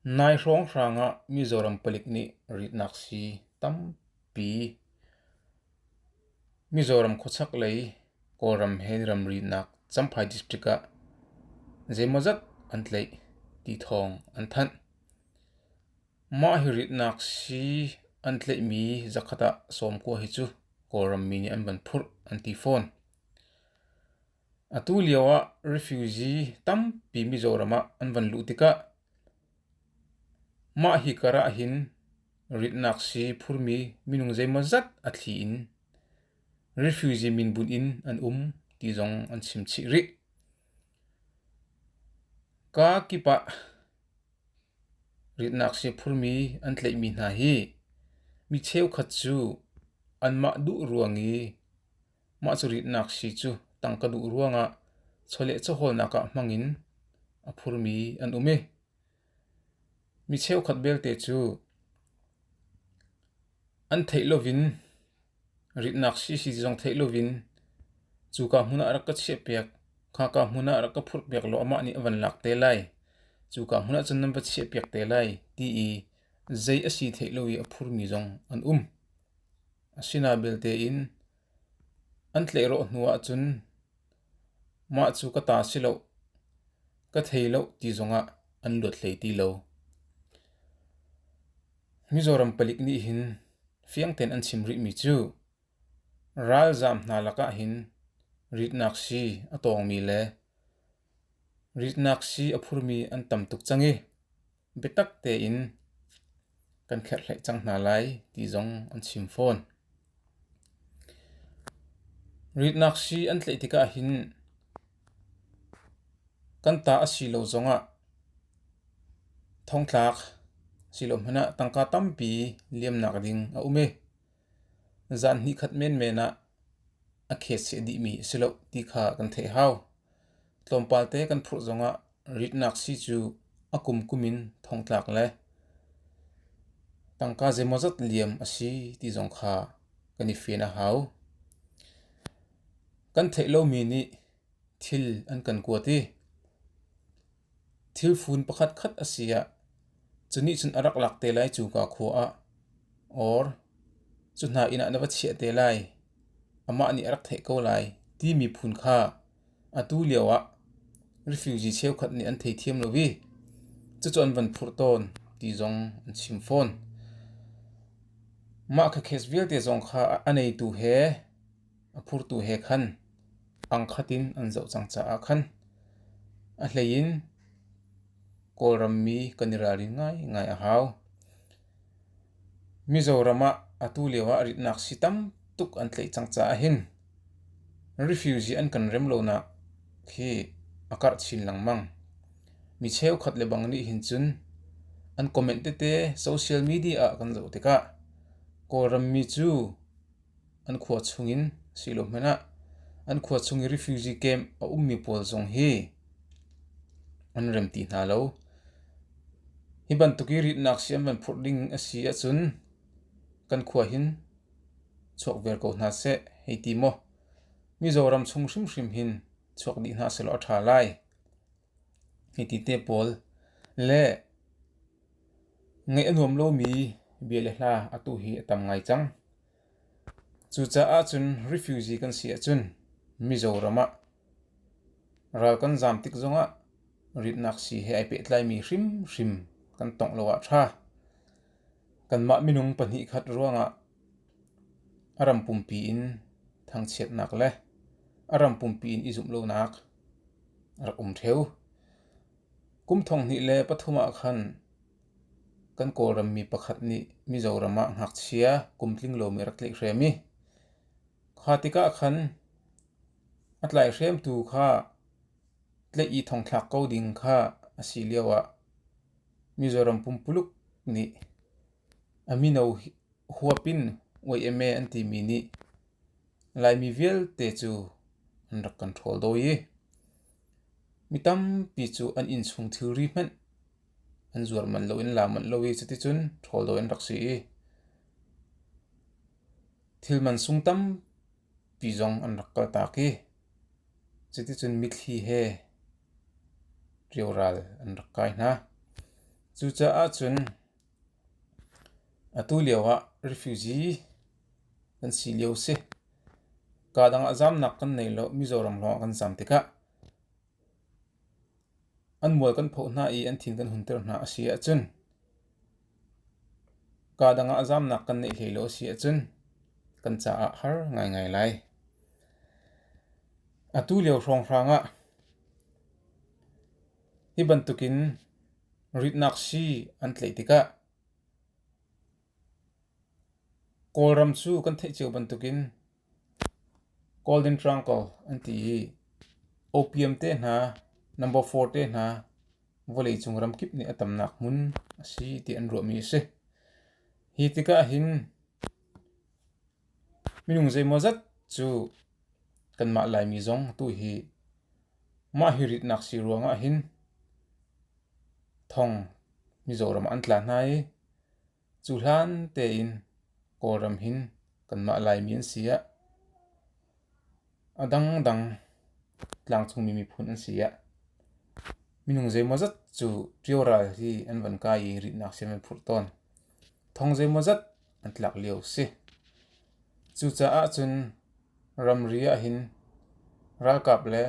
Nai hrawnghrang ah Mizoram palik nih ritnak sii tampi Mizoram khuachak lei Kawlram he ramrinak Champhai District ah zeimawzat an tlaih ti thawng an thanh. Mah hi ritnak sii an tlaihmi zakhat ah sawmkua hi cu Kawlram mi nih an van phurh an ti fawn. Atu lioah refugee tampi Mizoram ah an van luh tikah mah hi kar ahhin ritnak sii phurmi minung zeimawzat a thli in refugee min bunh in an um ti zong an chim chih rih. Ka kip ah ritnak sii phurmi an tleihmi hna hi mi cheukhat cu anmah duh ruang i Mah cu ritnak sii cu tang ka duh ruangah chawleh chawhawlnak ah hmang in a phurmi an um i mi cheukhat belte cu an theih lovin ritnak sii si zong theih lovin cuka hmun ah rak ka chiahpiak, khaka hmun ah rak ka phurhpiak law amah nih a van lak te lai, cuka hmun ahcun nan va chiahpiak te lai ti i zei a si theih lo i a phurmi zong an um. Asinain belte in an tleiraw hnu ahcun mah cu ka ta si loh, ka thei loh ti zongah an luat hlei ti lo. Mizoram palik nih hin fiang tein an chim rihmi cu ralzaam hna lakah hin ritnak sii a tawngmi le Ritnak sii a phurmi an tam tuk cang i biatak tein kan kherhhleih cang hna lai ti zong an chim fawn. Ritnak sii an tlaih tikah hin kan ta a si lo zongah thongtlak silo hmanh ah tangka tampi liamnak ding a um i zan hnih khat menmen ah a khet seh dihmi a si loh ti kha kan theih hau. Tlawmpal te kan phurh zongah ritnak sii cu a kum kum in thongtlak le tangka zeimawzat liam a si ti zong kha kan i fian a hau. Kan theih lomi nih thil an kan kuat i Thil fun pakhatkhat a si ah cu nih cun a rak lak te lai cu ka khua ah. Or cu hna inn ah na va chiah te lai. Amah nih a rak theih ko lai timi phun kha atu lio ah refugee cheukhat nih an thei thiam lo i cucu an van phurh tawn ti zong an chim fawn. Mah kha case vialte zong kha a neitu he a phurtu he khan pangkhat in an zoh cang caah khan a hleiin Kawlrammi kan i ralrin ngaingai a hau. Mizoram ah atu lio ah ritnak si tam tuk an tleih cang caah hin refugee an kan rem lonak khi a karh chin lengmang. Mi cheukhat le bang nih hin cun an comment tete social media ah kan zoh tikah Kawlrammi cu an khua chung in silohmanh ah an khua chung i refugee camp a ummi pawl zong hi an rem ti hna lo. Hi bantuk i ritnak sii an van phurh ding a si ahcun kan khua hin chuak viar ko hna seh hei ti maw. Mizoram chung hrimhrim hin chuak dih hna sehlaw a ṭha lai. Hitite pawl le ngeih a nuam lomi bia le hla atu hi a tam ngai cang. Cucaah cun refugee kan si ahcun Mizoram ah ral kan zaam tik zongah ritnak sii he ai pehtlaimi hrimhrim kan tongh lo ah ṭha. Kanmah minung pahnih khat ruangah A ram pumpi in thangchiatnak le a ram pumpi in i zumh lonak a rak um ṭheu. Kum thonghnih le pathum ah khan kan Kawlrammi pakhat nih Mizoram ah ngakchia kum tlinglomi a rak tleihhrem i kha tikah khan a tlaihhremtu kha tleih i thongthlak ko ding kha a si lioah Mizoram pumpuluk nih a mino huap in Uai-eme an timi nih Laimi vialte cu an rak kan ṭhawl dawi i mi tampi cu an innchung thilri hmanh an zuar manh lo in la manh lo i cuticun ṭhawl dawi an rak si i thil mansung tampi zong an rak kaltak i cuticun mithli he rio ral an rak kai hna. Cucaah cun Atu lio ah refugee kan si lio a si. Kaa dang ah zaamnak kan nei lo. Mizoram lawng ah kan zaam tikah an mual kan phoh hna i an thin kan hunter hna a si ahcun kaa dang ah zaamnak kan neih hlei lo a si ahcun kan caah har ngaingai lai. Atu lio hrawnghrang ah hi bantukin Ritnak sii an tlaih tikah Kawlram cu kan theih cio bantukin Golden Triangle an ti i opium te hna, number four te hna vawleicung ramkip nih a tamnak hmun a si ti an ruahmi a si. Hi tikah hin Minung zeimawzat cu kanmah Laimi zong atu hi mah hi ritnak sii ruangah hin thong Mizoram ah an tla hna i cu hlan tein Kawlram hin kanmah Laimi an si ah. A dangdang tlangcungmi miphun an si ah minung zeimawzat cu ṭio ral hi an von kai i ritnak siam an phurh tawn. Thong zeimawzat an tlak lio a si. Cucaah cun ramri ahhin ralkap le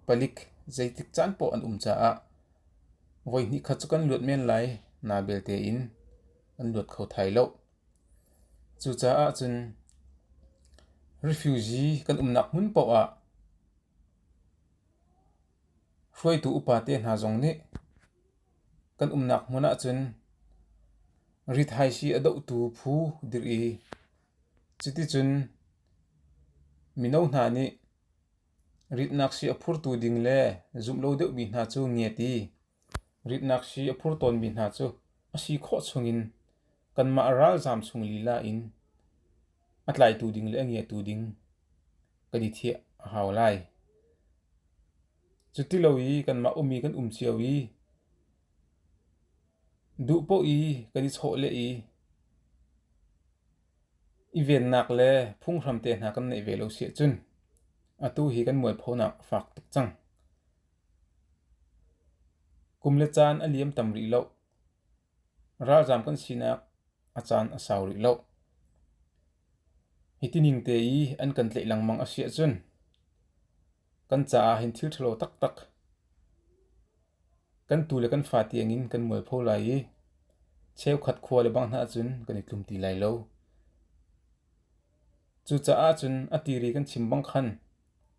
palik zeitik caan poh an um caah voi hnih khat cu kan luat men lai naa belte in an luat kho thai lo. Cucaah cun refugee kan umnak hmun paoh ah hruaitu upate hna zong nih kan umnak hmun ahcun rithaisi a dohtu phu dirh i cuticun mino hna nih ritnak sii a phurtu ding le zumh lo deuhmi hna cu ngiat i ritnak sii a phur tawnmi hna cu a si khawh chungin Kanmah ralzaam chung lila in a tlaitu ding le a ngiatu ding kan i thieh a hau lai. Cu ti lo i kanmah um i kan um cio i duh poh i kan i chawh le i i vennak le phunghram te hna kan neih ve lo siah cun atu hi kan mualphonak fak tuk cang. Kum le caan a liam tam rih loh. Ralzaam kan sinak a caan a sau rih lo. Hiti ning te i an kan tlaih lengmang a si ahcun kan caah hin thil ṭhalo taktak kan tu le kan fa tiangin kan mualpho lai i cheukhat khua le bang hna ahcun kan i tlum ti lai lo. Cucaah cun a tiri kan chim bang khan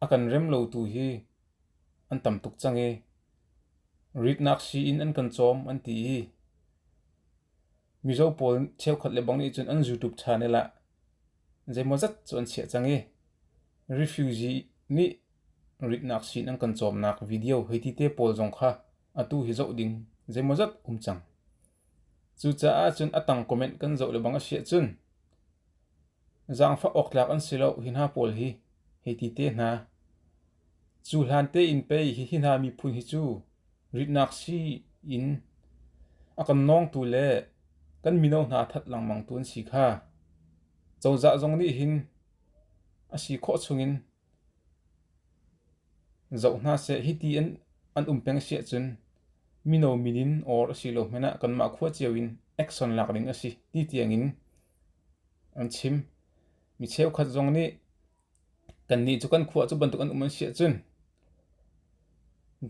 a kan rem lo tu hi An tam tuk cang ee. Ritnak sii in an kan cawm an ti i mizo pawl cheukhat le bang nih cun an zuutup channel ah zeimawzat cu an chiah cang i refugee nih ritnak sii in an kan cawmnak video hei ti te pawl zong kha atu hi zoh ding zeimawzat um cang. Cucaah cun a tang comment kan zoh lebang a si ahcun zaangfah awktlak an si lo hi hna pawl hi hei ti te hna. Cu hlan tein pei hihi hna miphun hi cu ritnak si in a kan nawngtu le kan mino hna that lengmang tu an si kha. Cozah zong nih hin a si khawh chungin Zoh hna seh, hiti an um peng a si ahcun mino min in or a si lo hmanh ah kanmah khua cio in action lak ding a si ti tiang in an chim. Mi cheukhat zong nih kannih cu kan khua cu bantuk an um an si ahcun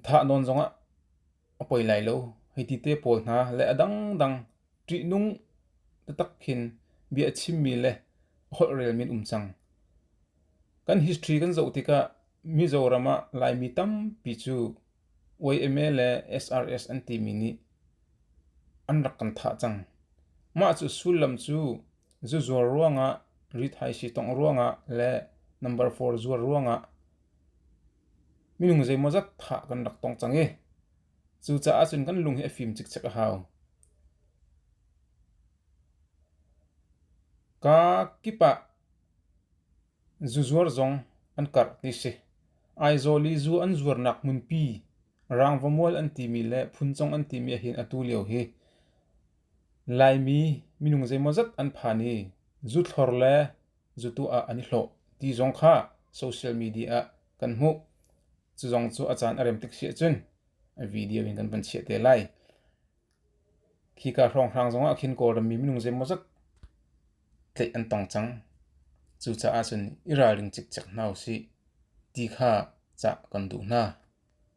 thah nawn zong ah a poi lai lo. Hi ti te pawl hna le a dangdang Ṭihnung taktak khin bia a chimmi le a holhrelmi an um cang. Kan history kan zoh tikah Mizoram ah Laimi tampi cu YMA le SRS an timi nih an rak kan thah cang. Mah cu sullam cu zuzuar ruangah, rithaisi tongh ruangah le number four zuar ruangah minung zeimawzat thah kan rak tong cang i Cucaah cun kan lung hi a fim cikcek a hau. Ka kip ah zuzuar zong an karh ti si. Aizawl i zu an zuarnak hmunpi, Rangvamual an timi le Phunchong an timi ahhin atu lio hi Laimi minung zeimawzat an phan i zuthlor le zutu ah an i hlawh ti zong kha social media ah kan hmuh. Cu zong cu a caan a rem tik si ahcun video in kan van chiah te lai. Khika hrawnghrang zongah khin Kawlrammi minung zeimawzat tleih an tong cang. Cucaah cun i ralring cikcek hna usih ti kha cah kan duh hna.